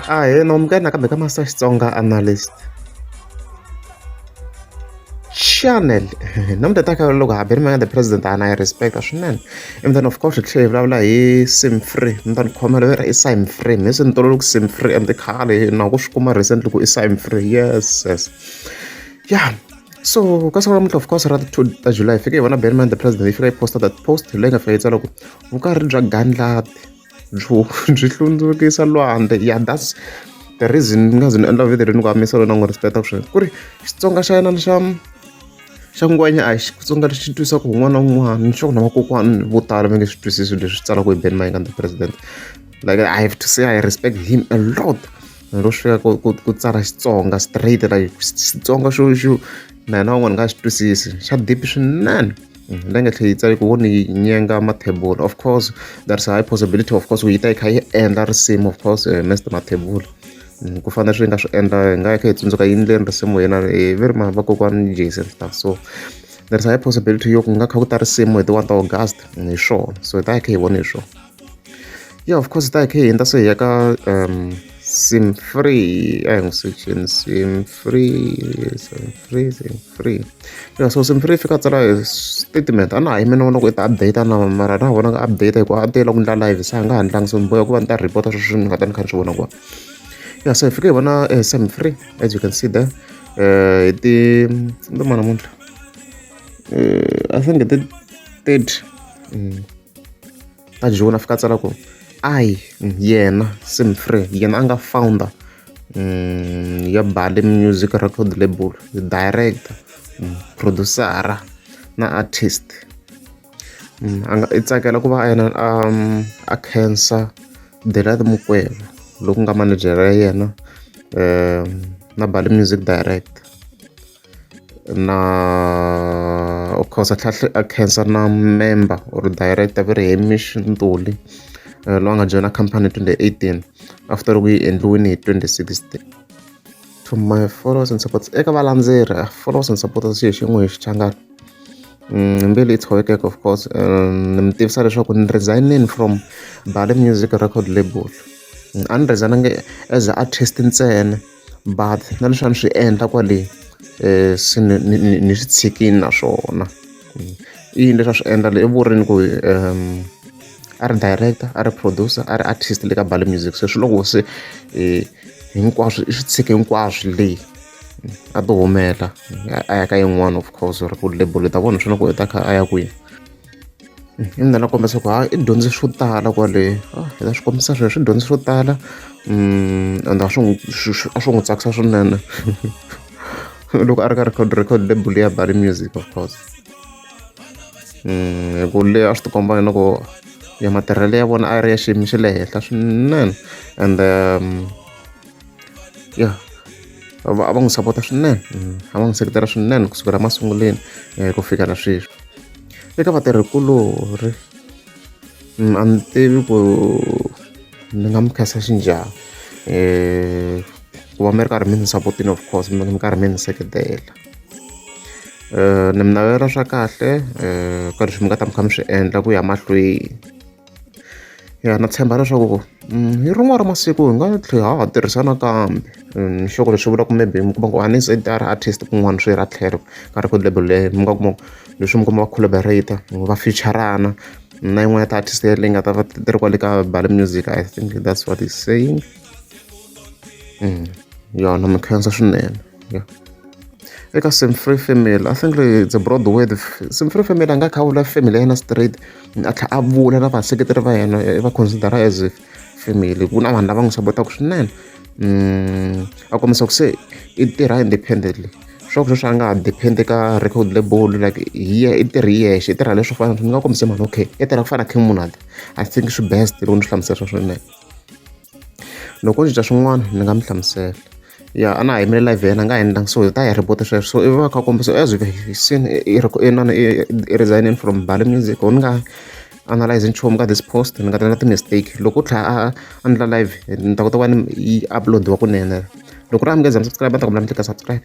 a hi no mi ka hina kambe ka master xitsonga analyst channel namuntlha ta ka loko haberi mi nga the president ana yi respecta swinene and then of course hi tlhela hi vulavula hi sim free mi ta ni khomela vera i sim free mi se ni tololo ku sim free and khale na ku swi kuma recently ku i sim free yes yes yeah so ka siku namuntlha of course ra ti two ta july hi fike hi vona benman the president yi fika yi posta that post leyi nga fika yi tsala ku vukarhi bya gandlati byi hlundzukisa lwandle ya that's the reason ni nga ze ni endla video leyi ni ku amisa loko ni n'wi respect-a sweswo ku ri Xitsonga xa yena ni xa xa ngwenya a hi Xitsonga lexi twisaka hi un'wana na un'wana ni sure ku na vakokwana vo tala va nge swi twisisi leswi tsalaka hi Ben Mayengani the president like I have to say I respect him a lot lero swi fika ku ku ku tsala Xitsonga straight like Xitsonga xo xo na hina van'wana hi nga xi twisisi xa deep swinene. la nga tlhela yi tsale ku wo ni nyenga mathebula of course there's a high possibility of course yi ta yi kha yi endla risimu of course eh, Mister Mathebula mm, ku fana swi nga swi endla hi nga yi kha yi tsundzuka yi ndleni risimu yena hi eh, veri ma vakokwani Jason stuff so there's a high possibility yo ku nga kha ku ta risimu hi ti-one ta August mm, hi swona so hi ta yi kha hi vona hi swona Yeah of course hi ta hi hundza se hi ya ka sim free a hi n'wi sacheni sim free sim free sim free ya so sim free yi fika a tsala hi statement a na ha yimi ni vona ku i ta update na mara na ha vonanga update hikuva a tiyela ku endla live se a nga ha ndlangi so ni boheka ku va ni ta report sweswi ni nga ta ni kha ni swi vona ku ya so hi fike hi vona sim free as you can see there hi ti ni ta ma namuntlha i think hi ti thirty. a Joni a fika a tsala ku I yena Sim Free yena a nga founder um ya Bali Music Record Label director mm, producer-a na artist mm, a nga i tsakela ku va a yena um, a khensa Delight Mukweva loku nga manejere ya yena um na Bali Music Director na of course a tlhela a khensa na member or director va ri hamish ntuli eh, loyi a nga joyina company hi 2018 after loko yi endliwini hi 2016 to my followers and supporters eka valandzeri ah, followers and supporters xi hi xin'we hi xichangani mm, mbili yi tshovekeke of course eh, ni mi tivisa leswaku ni resignini from bale music record label mm, a ni resignange as a artist ntsena but na leswi a ni swi endla kwale se ni ni ni ni swi tshikini naswona i yini leswi a swi endla le i vurimi ku a ri director a ri producer a ri artist le ka Bali Music se swi loko se hinkwaswo i swi tshike hinkwaswo le a to humela a ya ka yin'wana of course or ku label ta vona swi na ku u ta kha a ya kwini. na kombisa ku ha i dyondze swo tala kwale na swi kombisa sweswo i dyondze swo tala and a swi n'wi a swi n'wi tsakisa swinene loko a ri ka record record label ya bali music of course hi ku le a swi tikomba na ku ya matirhelo ya vona a ri ya xiyimo xa le henhla swinene and ya va va n'wi sapota swinene a va n'wi seketela swinene kusukela masunguleni um ku fika na sweswi eka vatirhikulorhi um a ni tivi ku ni nga mi khensa xi njhani um ku va mi ri karhi mi ni sapotile of course mi mi karhi mi ni seketela um ni mi navelela swa kahle um ka leswi mi nga ta mi kha mi swi endla ku ya mahlweni. Ya na tshemba leswaku hi rin'wana ra masiku hi nga tlhela ha ha tirhisa nakambe ni sure ku leswi vulaka maybe mi kuma ku a ni ze ni ta ya ri artist kun'wana swi ra tlhelo ka record label leyi mi nga kuma ku leswi mi kuma va collaborator va fichara-na na yin'wana ya ti-artist leyi nga ta va ti ri kwale ka Bali Music I think that's what he's saying yona mi khensa swinene ya eka Simphiwe family I think it's a broad word Simphiwe family a nga kha a vula family ya yena straight. a tlhela a vula na vaseketeri va yena i va consider-a as family ku na vanhu lava n'wi sapotaka swinene mm, a kombisa ku se i tirha independently swa ku sweswi a nga ha depend ka record label like hi i tirhi hi yexe i tirha leswo fana ni nga kombise mhani okay i tirha ku fana na king munada i think swi best loko ni swi hlamusela swa swinene Loko o cinca swin'wana ni nga mi hlamusela. Ya a na ha yimele live ya yena a nga ha endlangi so hi ta ya report-a sweswo. So ivi va kha va kombisa as if hi siyile inana i i resign-ini from Mbali Music or ni nga analyse-i nchumu ka this post ni nga ta endla ti-mistake. Loko u tlhela a a endla live ni ta kota ku va ni yi upload-iwa kunene. Loko ku ri a mi nge za mi subscribe a ni ta kombela mi tleketla subscribe.